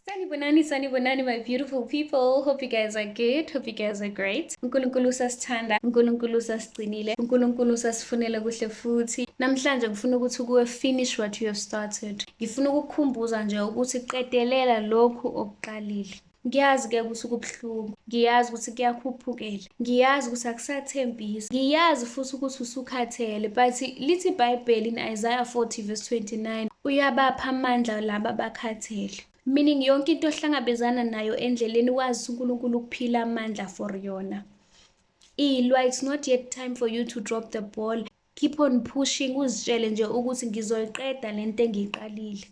Sanibonani, sanibonani, my beautiful people. Hope you guys are good. Hope you guys are great. Unkulunkulu usasithanda, unkulunkulu usasigcinile, unkulunkulu usasifunela kuhle futhi. Namhlanje ngifuna ukuthi kuwe finish what you have started. Ngifuna ukukukhumbuza nje ukuthi qedelela lokhu okuqalile. Ngiyazi ke ukuthi kubuhlungu. Ngiyazi ukuthi kuyakhuphukela. Ngiyazi ukuthi akusathembisi. Ngiyazi futhi ukuthi usukhathele, but lithi iBhayibheli in Isaiah 40 verse 29, uyabapha amandla laba bakhathele. Meaning yonke into ohlangabezana nayo endleleni wazi uNkulunkulu ukuphila amandla for yona. Ilwa, it's not yet time for you to drop the ball. Keep on pushing uzitshele nje ukuthi ngizoyiqeda lento engiyiqalile.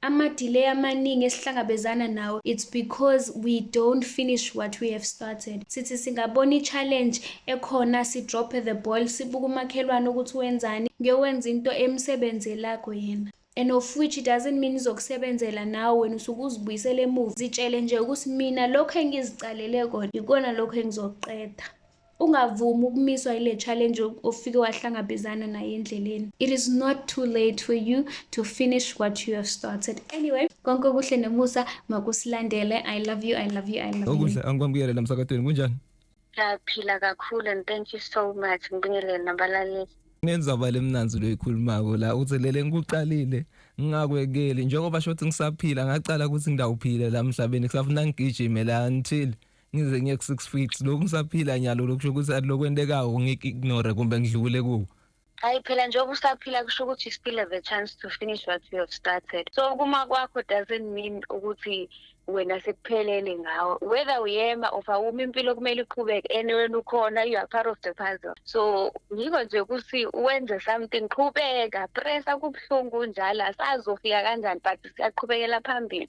Ama-delay amaningi esihlangabezana nawo it's because we don't finish what we have started. Sithi singabona i-challenge ekhona si-drope the ball sibuke umakhelwane ukuthi wenzani ngiyowenza into emsebenzelago yena and of which it doesn't mean izokusebenzela nawe wena usuke uzibuyisele emuva zitshele nje ukuthi mina lokho engiziqalele kona yikona lokho engizokuqeda Ungavumi ukumiswa ile challenge ofike wahlangabezana naye endleleni. It is not too late for you to finish what you have started. Anyway, konke okuhle nomusa makusilandele. I love you, I love you, I love you. Okuhle angikwamukele la msakatweni kunjani? Ngiyaphila kakhulu and thank you so much ngibingelele nabalaleli. Ngenzaba lemnanzi loyikhulumako la uthi lele ngikuqalile ngingakwekeli njengoba shothi ngisaphila ngaqala ukuthi ngidawuphile la mhlabeni kusafuna ngigijime la until ngize ngiye ku-six feet lokhu ngisaphila nyalo lokhu kusho ukuthi alokwentekayo ngiku-ignore kumbe ngidlule kuwo hayi phela njengoba usaphila kusho ukuthi you still have a chance to finish what you have started so kuma kwakho doesn't mean ukuthi wena sekuphelele ngawe whether uyema of awumi impilo kumele iqhubeke and wena ukhona you are part of the puzzle so ngiko nje ukuthi wenze something qhubeka pressa kubuhlungu njalo asazofika kanjani but siyaqhubekela phambili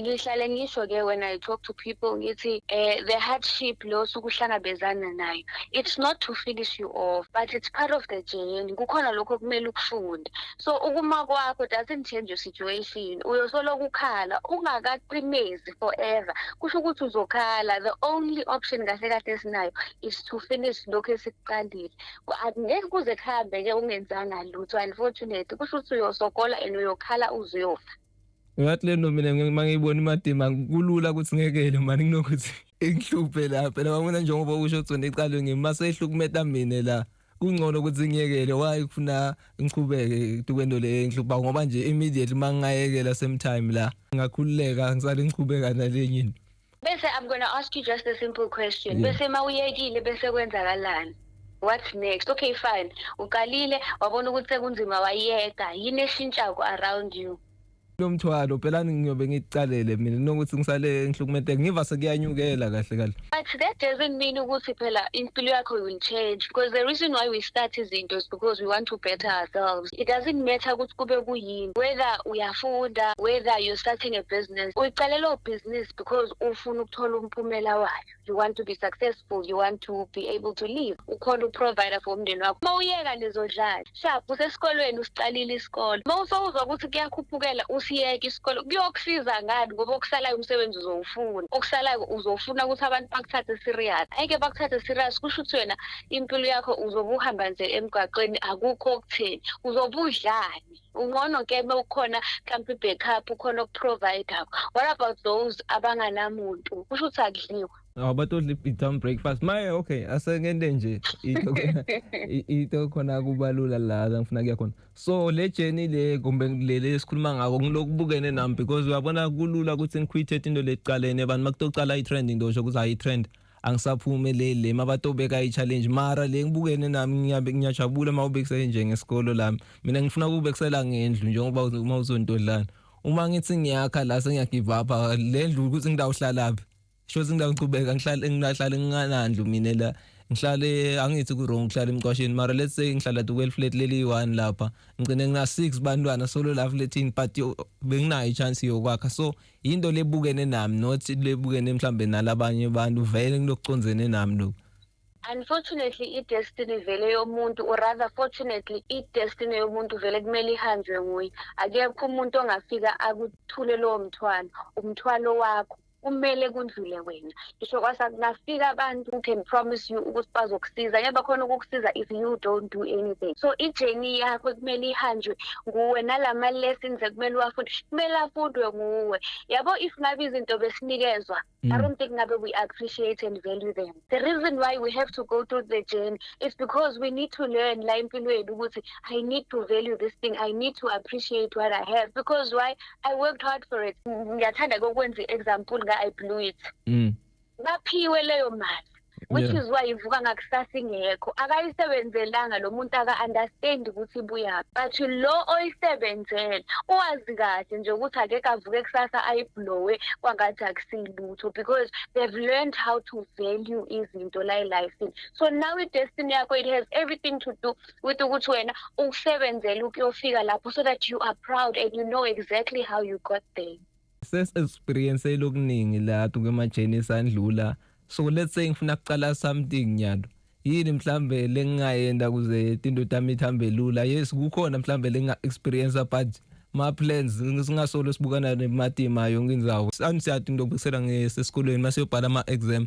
ngihlale ngisho ke when i talk to people ngithi eh the hardship lo sukuhlangabezana nayo it's not to finish you off but it's part of the journey kukhona lokho kumele ukufunde so ukuma kwakho doesn't change your situation uyosolo kukhala ungakaqinezi forever kusho ukuthi uzokhala the only option kahle kahle esinayo is to finish lokho esikuqalile ngeke kuze kuhambe ke ungenzanga lutho unfortunately kusho ukuthi uyosokola and uyokhala uzoyofa ngathi le nto mina uma ngiyibona imadima kulula ukuthi ngekele mani kunokuthi ingihluphe la phela kwakuna njengoba usho ukuthi ndiqalwe ngimi uma seyihlukumeta mina la kungcono ukuthi ngiyekele waye kufuna ngiqhubeke kwento le engihlupha ngoba nje immediately uma ngingayekela same time la ngakhululeka ngisale ngiqhubeka nalenye into Bese I'm going to ask you just a simple question. Yeah. Bese mawuyekile bese kwenzakalani? What's next? Okay fine. Uqalile wabona ukuthi sekunzima wayeka. Yini eshintshayo around you? lo mthwalo phela ngiyobe ngicalele mina nokuthi ngisale ngihlukumetheke ngiva sekuyanyukela kahle kahle but that doesn't mean ukuthi phela impilo yakho will change because the reason why we start izinto is because we want to better ourselves it doesn't matter ukuthi kube kuyini whether uyafunda whether you're starting a business uyicalela ubhizinisi because ufuna ukuthola umphumela wayo you want to be successful you want to be able to live ukhona uprovider for umndeni wakho uma uyeka lezodlala sharp usesikolweni usiqalile isikole uma usowuzwa ukuthi kuyakhuphukela usiyeke isikole kuyokusiza ngani ngoba okusalayo umsebenzi uzowufuna okusalayo uzofuna ukuthi abantu bakuthathe serious ayike bakuthathe serious kusho ukuthi wena impilo yakho uzobe uhamba nje emgwaqweni akukho okutheni uzobe udlani ungcono ke uma ukhona mhlawumpe i-backup ukhona okuprovidayo what about those abanganamuntu kusho ukuthi akudliwa abatodla i-town breakfast maye okay asengende nje into khona kubalula la ngifuna kuya khona so le journey le kumbe leli esikhuluma ngako ngilokubukene nami because uyabona kulula ukuthi ngikhwithe into le kuqaleni abantu makutocala i-trend into osho ukuthi hayi i-trend angisaphumeleli le mabatobeka i-challenge mara le ngibukene nami ngiyajabula uma ubekisele nje ngesikolo lami mina ngifuna ukubekisela ngendlu njengoba uma uzontodlana uma ngithi ngiyakha la sengiyagive up le ndlu ukuthi ngidawuhlalaphi sho ukuthi ngidawuqhubeka ngihlale ngihlale nginganandlu mina la ngihlale angithi ku-wrong ngihlale emqwasheni mara let's say ngihlala dukweli flat leli one lapha ngigcine ngina-six bantwana solo la flatini but benginayo i-chance yokwakha so yinto lebukene nami not lebukene mhlambe nalabanye abantu vele kulokuconzene nami lokhu unfortunately i-destiny vele yomuntu or rather fortunately i-destiny yomuntu vele kumele ihanjwe nguye akekho umuntu ongafika akuthule lowo mthwalo umthwalo wakho kumele kundlule wena ngisho kwasa kungafika abantu who can promise you ukuthi bazokusiza ngeke bakhona ukukusiza if you don't do anything so i-journey yakho kumele ihanjwe nguwe nalama-lessons ekumele uwafunde kumele afundwe nguwe yabo if ngabe izinto besinikezwa I mm. don't think ngabe we appreciate and value them. The reason why we have to go through the journey is because we need to learn la impilo yethu ukuthi I need to value this thing, I need to appreciate what I have because why i worked hard for it ngiyathanda kokwenza i-example nga-i blew it mm. baphiwe leyo mali which yeah. is why ivuka ngakusasa ingekho akayisebenzelanga lo muntu aka-understand ukuthi ibuyaphi but lo oyisebenzele uwazi kahle nje ukuthi akekho avuke kusasa ayiblowe kwangathi akusiyilutho because they've learned how to value izinto la elifini so now i-destiny yakho it has everything to do with ukuthi wena ukusebenzela ukuyofika lapho so that you are proud and you know exactly how you got there sesiexperience lokuningi la kumajeni esandlula so let's say ngifuna kuqala something nyalo yini mhlambe lengingayenda kuze indoda yami ithambe lula yes kukhona mhlambe lenga experience but ma plans singasolo sibukana nematima yonke inzawo sami siyadinga ukubukisela ngesesikolweni masiyobhala ama exam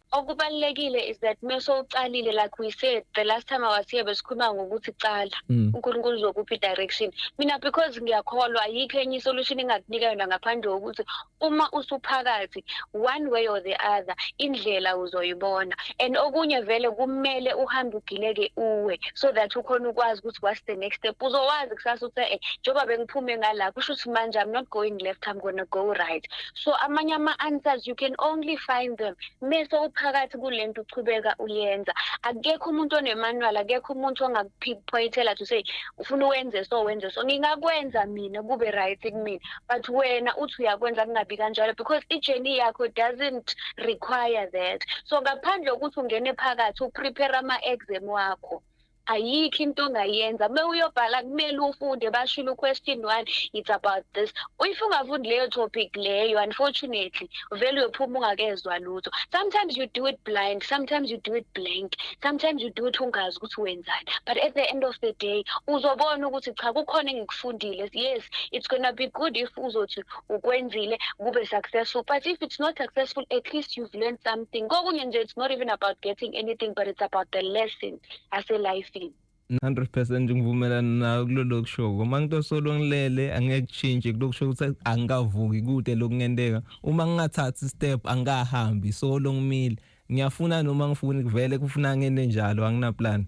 okubalulekile is that mese uqalile like we said the last time i was here besikhuluma ngokuthi qala mm. unkulunkulu uzokuphi direction mina because ngiyakholwa ayikho enye isolution engakunika yona ngaphandle kokuthi uma usuphakathi one way or the other indlela uzoyibona and okunye vele kumele uhambe ugileke uwe so that ukhona ukwazi ukuthi what's the next step uzowazi kusasa ukuthi eh njengoba bengiphume ngala kusho ukuthi manje i'm not going left i'm gonna go right so amanye ama-answers you can only find them mese uphakathi kule nto uchubeka uyenza akekho umuntu onemanual akekho umuntu ongakuphoyithela to say ufuna uwenze so wenze so ngingakwenza mina kube right kumina but wena uthi uyakwenza kungabi kanjalo because i-journey yakho doesn't require that so ngaphandle kokuthi ungene phakathi uprepare ama-exam wakho ayikho into ongayenza uma uyobhala kumele ufunde bashilo question one it's about this if ungafundi leyo topic leyo unfortunately uvele uyophuma ungakezwa lutho sometimes you do it blind sometimes you do it blank sometimes you do it ungazi ukuthi wenzani but at the end of the day uzobona ukuthi cha kukhona engikufundile yes it's gonna be good if uzothi ukwenzile kube successful but if it's not successful at least you've learned something kokunye nje it's not even about getting anything but it's about the lesson aselifini 100% ngivumelana nawe kulolo kushoko uma ngito solo ngilele angeke kushintshe kulokusho ukuthi angikavuki kude lokungenteka uma ngingathathi step angikahambi solo ngimile ngiyafuna noma ngifuni kuvele kufuna ngene njalo anginaplan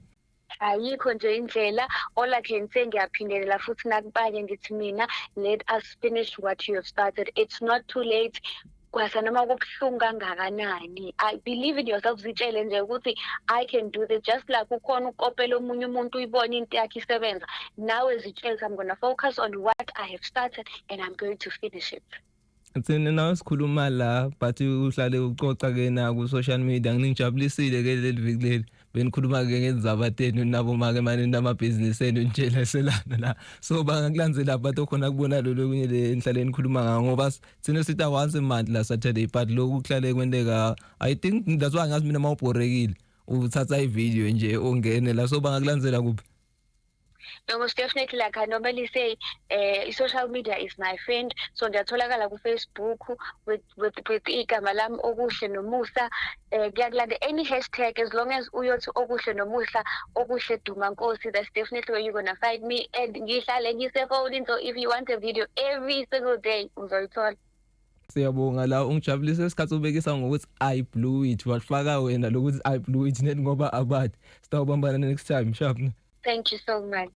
ayikho nje indlela all i can say ngiyaphindelela futhi nakubanye ngithi mina let us finish what you have started it's not too late kwasa noma kubuhlungu kangakanani i believe in yourself zitshele nje ukuthi i can do this just like ukhona ukopela omunye umuntu uyibona into yakhe isebenza nawe zitshele i'm going to focus on what i have started and i'm going to finish it Thina nawe sikhuluma la but uhlale ucoca ke na ku social media nginijabulisile ke leli viki leli benikhuluma-ke ngenzaba tenu nabo make mane namabhizinisi enu nitsheleselana la so bangakulandzela abantu okhona kubona lolu okunye le nihlale nikhuluma ngawo ngoba thina sita once a month la saturday but loku kuhlale kwenteka i think that's why ngazi mina mawubhorekile uthatha ivideo nje ungene la so bangakulandzela kuphi no most definitely like i normally say uh, social media is my friend so ngiyatholakala kufacebook with with with igama lami okuhle nomusa eh kuyakulanda any hashtag as long as uyothi okuhle nomusa okuhle duma nkosi that's definitely where you're gonna find me and ngihlale ngisefonini so if you want a video every single day uzoyithola Siyabonga la ungijabulisa isikhathi ubekisa ngokuthi I blew it wafaka wena lokuthi I blew it net ngoba abathi sitawubambana next time sharp. Thank you so much.